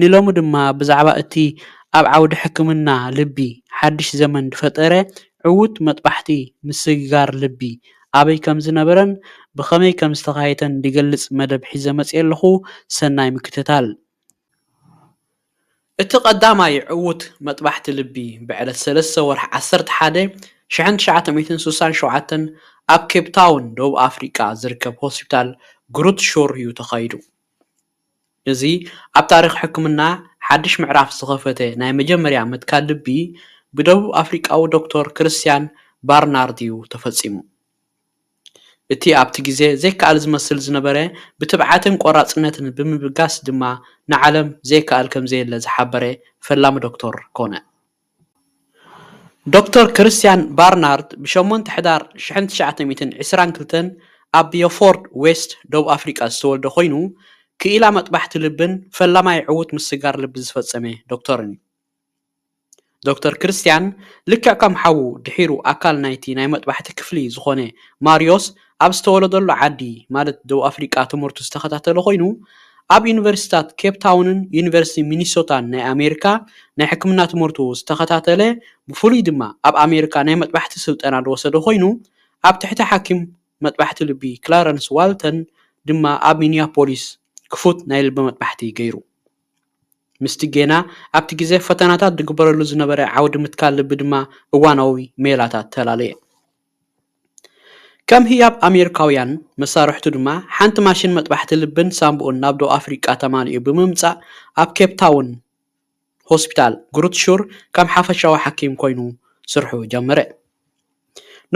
ንሎሚ ድማ ብዛዕባ እቲ ኣብ ዓውዲ ሕክምና ልቢ ሓድሽ ዘመን ዝፈጠረ ዕዉት መጥባሕቲ ምስግጋር ልቢ ኣበይ ከምዝነበረን ብኸመይ ከምዝተኻየተን ዝገልጽ መደብ ሒዘ መጺኤ ኣለኹ ሰናይ ምክትታል። እቲ ቀዳማይ ዕዉት መጥባሕቲ ልቢ ብዕለት ሰለስተ ወርሒ ዓሰርተ ሓደ ሽሕን ትሽዓተ ሚእትን ስሳን ሸውዓተን ኣብ ኬፕታውን ደቡብ ኣፍሪቃ ዝርከብ ሆስፒታል ግሩት ሹር እዩ ተኻይዱ። እዚ ኣብ ታሪኽ ሕክምና ሓድሽ ምዕራፍ ዝኸፈተ ናይ መጀመርያ ምትካል ልቢ ብደቡብ ኣፍሪቃዊ ዶክተር ክርስትያን ባርናርድ'ዩ ተፈጺሙ። እቲ ኣብቲ ግዜ ዘይከኣል ዝመስል ዝነበረ ብትብዓትን ቆራጽነትን ብምብጋስ ድማ ንዓለም ዘይከኣል ከምዘየለ ዝሓበረ ፈላሚ ዶክተር ኮነ። ዶክተር ክርስትያን ባርናርት ብ ሸሞንተ ሕዳር ሽሕን ትሽዓተ ሚእትን ዕስራን ክልተን ኣብ ብዮፎርድ ዌስት፣ ደቡብ ኣፍሪቃ ዝተወልደ ኮይኑ፣ ክኢላ መጥባሕቲ ልብን ፈላማይ ዕዉት ምስጋር ልቢ ዝፈጸመ ዶክተርን'ዩ። ዶክተር ክርስትያን ልክዕ ከም ሓዉ ድሒሩ ኣካል ናይቲ ናይ መጥባሕቲ ክፍሊ ዝኾነ ማርዮስ ኣብ ዝተወለደሉ ዓዲ ማለት ደቡብ ኣፍሪቃ ትምህርቱ ዝተኸታተለ ኮይኑ፣ ኣብ ዩኒቨርሲቲታት ኬፕ ታውንን ዩኒቨርሲቲ ሚኒሶታን ናይ ኣሜሪካ ናይ ሕክምና ትምህርቱ ዝተኸታተለ ብፍሉይ ድማ ኣብ ኣሜሪካ ናይ መጥባሕቲ ስልጠና ዝወሰደ ኮይኑ ኣብ ትሕቲ ሓኪም መጥባሕቲ ልቢ ክላረንስ ዋልተን ድማ ኣብ ሚኒያፖሊስ ክፉት ናይ ልቢ መጥባሕቲ ገይሩ። ምስቲ ጌና ኣብቲ ግዜ ፈተናታት ዝግበረሉ ዝነበረ ዓውዲ ምትካል ልቢ ድማ እዋናዊ ሜላታት ተላለየ። ከም ህያብ ኣሜሪካውያን መሳርሕቱ ድማ ሓንቲ ማሽን መጥባሕቲ ልብን ሳንቡኡን ናብ ደቡብ ኣፍሪቃ ተማሊኡ ብምምጻእ ኣብ ኬፕታውን ሆስፒታል ግሩት ሹር ከም ሓፈሻዊ ሓኪም ኮይኑ ስርሑ ጀመረ።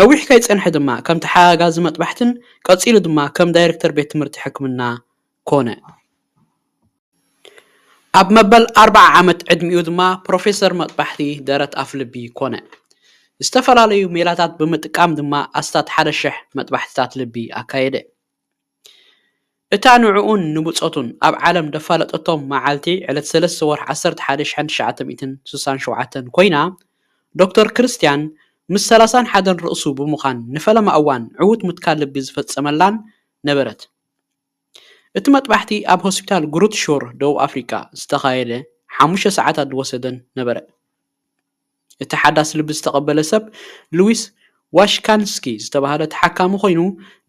ነዊሕ ከይጸንሐ ድማ ከም ተሓጋጋዚ መጥባሕትን ቀጺሉ ድማ ከም ዳይረክተር ቤት ትምህርቲ ሕክምና ኮነ። ኣብ መበል ኣርብዓ ዓመት ዕድሚኡ ድማ ፕሮፌሰር መጥባሕቲ ደረት ኣፍልቢ ኮነ። ዝተፈላለዩ ሜላታት ብምጥቃም ድማ ኣስታት ሓደ ሽሕ መጥባሕትታት ልቢ ኣካየደ። እታ ንዕኡን ንብጾቱን ኣብ ዓለም ደፋለጠቶም መዓልቲ ዕለት ሰለስተ ወርሒ ዓሰርተ ሓደ ሽሕን ትሽዓተ ሚእትን ስሳን ሸውዓተን ኮይና፣ ዶክተር ክርስትያን ምስ ሰላሳን ሓደን ርእሱ ብምዃን ንፈለማ እዋን ዕዉት ምትካል ልቢ ዝፈጸመላን ነበረት። እቲ መጥባሕቲ ኣብ ሆስፒታል ግሩት ሾር ደቡብ ኣፍሪቃ ዝተኻየደ ሓሙሽተ ሰዓታት ዝወሰደን ነበረ። እቲ ሓዳስ ልቢ ዝተቐበለ ሰብ ሉዊስ ዋሽካንስኪ ዝተባህለ ተሓካሚ ኮይኑ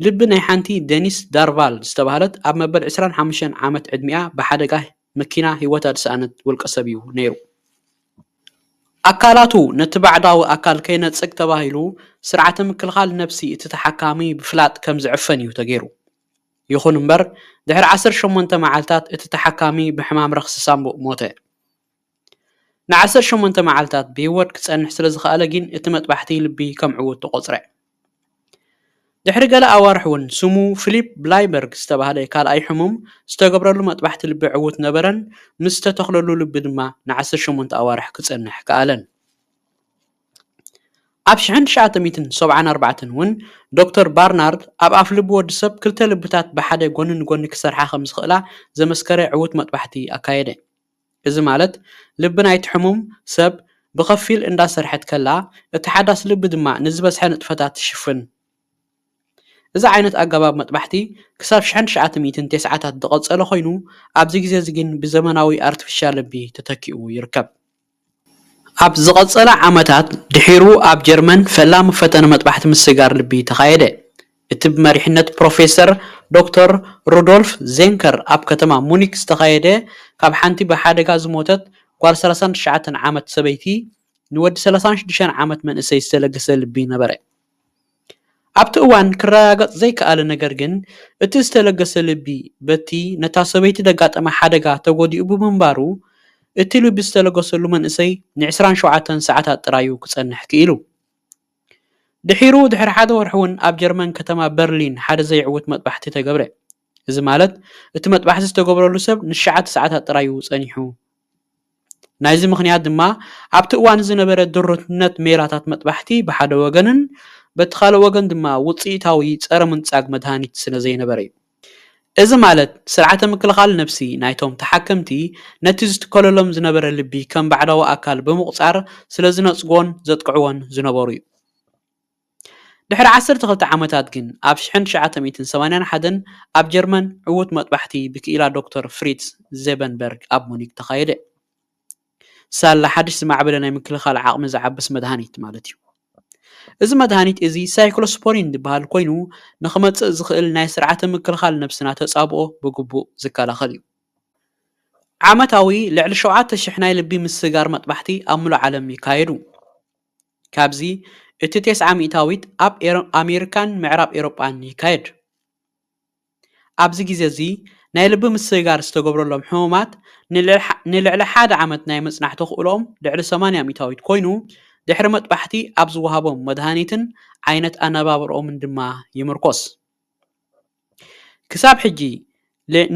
ልቢ ናይ ሓንቲ ደኒስ ዳርቫል ዝተባህለት ኣብ መበል ዕስራን ሓሙሽተን ዓመት ዕድሚኣ ብሓደጋ መኪና ህይወታ ዝሰኣነት ውልቀሰብ'ዩ ነይሩ። ኣካላቱ ነቲ ባዕዳዊ ኣካል ከይነጽግ ተባሂሉ ስርዓተ ምክልኻል ነብሲ እቲ ተሓካሚ ብፍላጥ ከም ዝዕፈን'ዩ ተገይሩ። ይኹን እምበር፣ ድሕሪ ዓሰርተ ሸሞንተ መዓልታት እቲ ተሓካሚ ብሕማም ረኽሲ ሳንቡእ ሞተ። ንዓሰርተ ሸሞንተ መዓልታት ብህይወት ክጸንሕ ስለ ዝኸኣለ ግን እቲ መጥባሕቲ ልቢ ከም ዕዉት ተቖጽረ። ድሕሪ ገለ ኣዋርሕ እውን ስሙ ፊሊፕ ብላይበርግ ዝተባህለ ካልኣይ ሕሙም ዝተገብረሉ መጥባሕቲ ልቢ ዕዉት ነበረን፣ ምስ ዝተተኽለሉ ልቢ ድማ ንዓሰርተ ሸሞንተ ኣዋርሕ ክጸንሕ ከኣለን። ኣብ ሽሕን ትሽዓተ ሚእትን ሰብዓን ኣርባዕተን እውን ዶክተር ባርናርድ ኣብ ኣፍልቡ ወዲ ሰብ ክልተ ልብታት ብሓደ ጐኒ ንጐኒ ክሰርሓ ኸም ዝኽእላ ዘመስከረ ዕዉት መጥባሕቲ ኣካየደ። እዚ ማለት ልቢ ናይቲ ሕሙም ሰብ ብኸፊል እንዳሰርሐት ከላ እቲ ሓዳስ ልቢ ድማ ንዝበዝሐ ንጥፈታት ትሽፍን። እዚ ዓይነት ኣገባብ መጥባሕቲ ክሳብ ሽሕን ትሽዓተ ሚእትን ተስዓታት ዝቐጸለ ኰይኑ ኣብዚ ግዜ'ዚ ግን ብዘመናዊ ኣርቲፊሻል ልቢ ተተኪኡ ይርከብ። ኣብ ዝቐጸለ ዓመታት ድሒሩ ኣብ ጀርመን ፈላሚ ፈተነ መጥባሕቲ ምስጋር ልቢ ተኻየደ። እቲ ብመሪሕነት ፕሮፌሰር ዶክተር ሩዶልፍ ዜንከር ኣብ ከተማ ሙኒክ ዝተኻየደ ካብ ሓንቲ ብሓደጋ ዝሞተት ጓል ሰላሳን ትሽዓተን ዓመት ሰበይቲ ንወዲ ሰላሳን ሽዱሽተን ዓመት መንእሰይ ዝተለገሰ ልቢ ነበረ። ኣብቲ እዋን ክረጋገጽ ዘይከኣለ ነገር ግን፣ እቲ ዝተለገሰ ልቢ በቲ ነታ ሰበይቲ ዘጋጠማ ሓደጋ ተጎዲኡ ብምንባሩ፣ እቲ ልቢ ዝተለገሰሉ መንእሰይ ንዕስራን ሸውዓተን ሰዓታት ጥራይ'ዩ ክጸንሕ ክኢሉ። ድሒሩ ድሕሪ ሓደ ወርሒ'ውን ኣብ ጀርመን ከተማ በርሊን ሓደ ዘይዕዉት መጥባሕቲ ተገብረ። እዚ ማለት እቲ መጥባሕቲ ዝተገብረሉ ሰብ ንሸዓተ ሰዓታት ጥራይ'ዩ ጸኒሑ። ናይዚ ምኽንያት ድማ ኣብቲ እዋን ዝነበረ ድሩትነት ሜላታት መጥባሕቲ ብሓደ ወገንን በቲ ካልእ ወገን ድማ ውጽኢታዊ ጸረ-ምንጻግ መድሃኒት ስለዘይነበረ'ዩ። እዚ ማለት ስርዓተ ምክልኻል ነብሲ ናይቶም ተሓከምቲ ነቲ ዝትከለሎም ዝነበረ ልቢ ከም ባዕዳዊ ኣካል ብምቑጻር ስለዝነጽግዎን ዘጥቅዕዎን ዝነበሩ'ዩ። ድሕሪ ዓሰርተ ክልተ ዓመታት ግን፣ ኣብ ሽሕን ትሽዓተ ሚእትን ሰማንያን ሓደን ኣብ ጀርመን ዕዉት መጥባሕቲ ብክኢላ ዶክተር ፍሪትዝ ዜበንበርግ ኣብ ሙኒክ ተኻየደ። ሳላ ሓድሽ ዝማዕበለ ናይ ምክልኻል ዓቕሚ ዝዓብስ መድሃኒት ማለት'ዩ። እዚ መድሃኒት እዚ ሳይክሎስፖሪን ዝበሃል ኮይኑ ንኽመጽእ ዝኽእል ናይ ስርዓተ ምክልኻል ነብስና ተጻብኦ ብግቡእ ዝከላኸል እዩ። ዓመታዊ ልዕሊ ሸውዓተ ሽሕ ናይ ልቢ ምስጋር መጥባሕቲ ኣብ ምሉእ ዓለም ይካየዱ። ካብዚ እቲ ቴስዓ ሚእታዊት ኣብ ኣሜሪካን ምዕራብ ኤውሮጳን ይካየድ። ኣብዚ ግዜ እዚ ናይ ልቢ ምስግጋር ዝተገብረሎም ሕሙማት ንልዕሊ ሓደ ዓመት ናይ ምጽናሕ ተኽእሎኦም ልዕሊ ሰማንያ ሚእታዊት ኮይኑ ድሕሪ መጥባሕቲ ኣብ ዝወሃቦም መድሃኒትን ዓይነት ኣነባብርኦምን ድማ ይምርኮስ። ክሳብ ሕጂ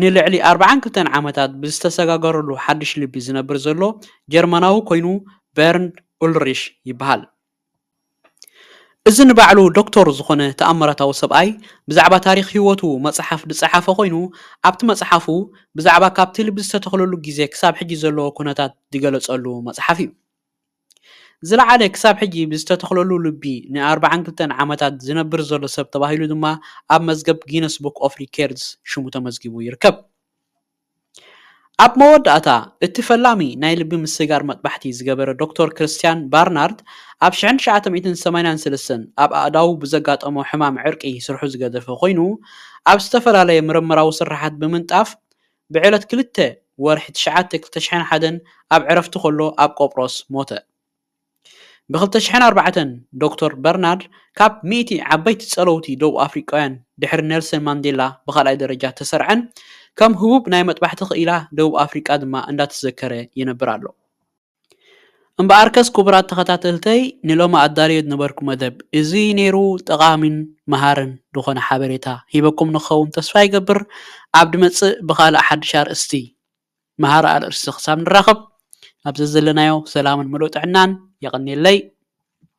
ንልዕሊ ኣርብዓን ክልተን ዓመታት ብዝተሰጋገረሉ ሓድሽ ልቢ ዝነብር ዘሎ ጀርመናዊ ኮይኑ በርንድ ኡልሪሽ ይበሃል። እዚ ንባዕሉ ዶክቶር ዝኾነ ተኣምራታዊ ሰብኣይ ብዛዕባ ታሪኽ ህይወቱ መጽሓፍ ዝጸሓፈ ኮይኑ ኣብቲ መጽሓፉ ብዛዕባ ካብቲ ልቢ ዝተተኽለሉ ግዜ ክሳብ ሕጂ ዘለዎ ኩነታት ዝገለጸሉ መጽሓፍ እዩ። ዝለዓለ ክሳብ ሕጂ ብዝተተኽለሉ ልቢ ን ኣርብዓን ክልተን ዓመታት ዝነብር ዘሎ ሰብ ተባሂሉ ድማ ኣብ መዝገብ ጊነስ ቡክ ኦፍ ሪኬርድስ ሽሙ ተመዝጊቡ ይርከብ። ኣብ መወዳእታ እቲ ፈላሚ ናይ ልቢ ምስጋር መጥባሕቲ ዝገበረ ዶክተር ክርስትያን ባርናርድ ኣብ ሽሕን ትሽዓተ ሚእትን ሰማንያን ሰለስተን ኣብ ኣእዳዉ ብዘጋጠሞ ሕማም ዕርቂ ስርሑ ዝገደፈ ኮይኑ ኣብ ዝተፈላለየ ምርምራዊ ስርሓት ብምንጣፍ ብዕለት ክልተ ወርሒ ትሽዓተ ክልተ ሽሕን ሓደን ኣብ ዕረፍቲ ከሎ ኣብ ቆጵሮስ ሞተ። ብክልተ ሽሕን ኣርባዕተን ዶክተር በርናርድ ካብ ሚእቲ ዓበይቲ ጸለውቲ ደቡብ ኣፍሪቃውያን ድሕሪ ኔልሰን ማንዴላ ብካልኣይ ደረጃ እተሰርዐን ከም ህቡብ ናይ መጥባሕቲ ክኢላ ደቡብ ኣፍሪቃ ድማ እንዳተዘከረ ይነብር ኣሎ። እምበኣርከስ ክቡራት ተኸታተልተይ ንሎሚ ኣዳልዮ ዝነበርኩ መደብ እዚ ነይሩ ጠቓሚን መሃርን ዝኾነ ሓበሬታ ሂበኩም ንክኸውን ተስፋ ይገብር ኣብ ድመጽእ ብኻልእ ሓድሽ ኣርእስቲ መሃሪ ኣርእስቲ ክሳብ ንራኸብ ኣብ ዘዘለናዮ ሰላምን ምሉእ ጥዕናን የቐንየለይ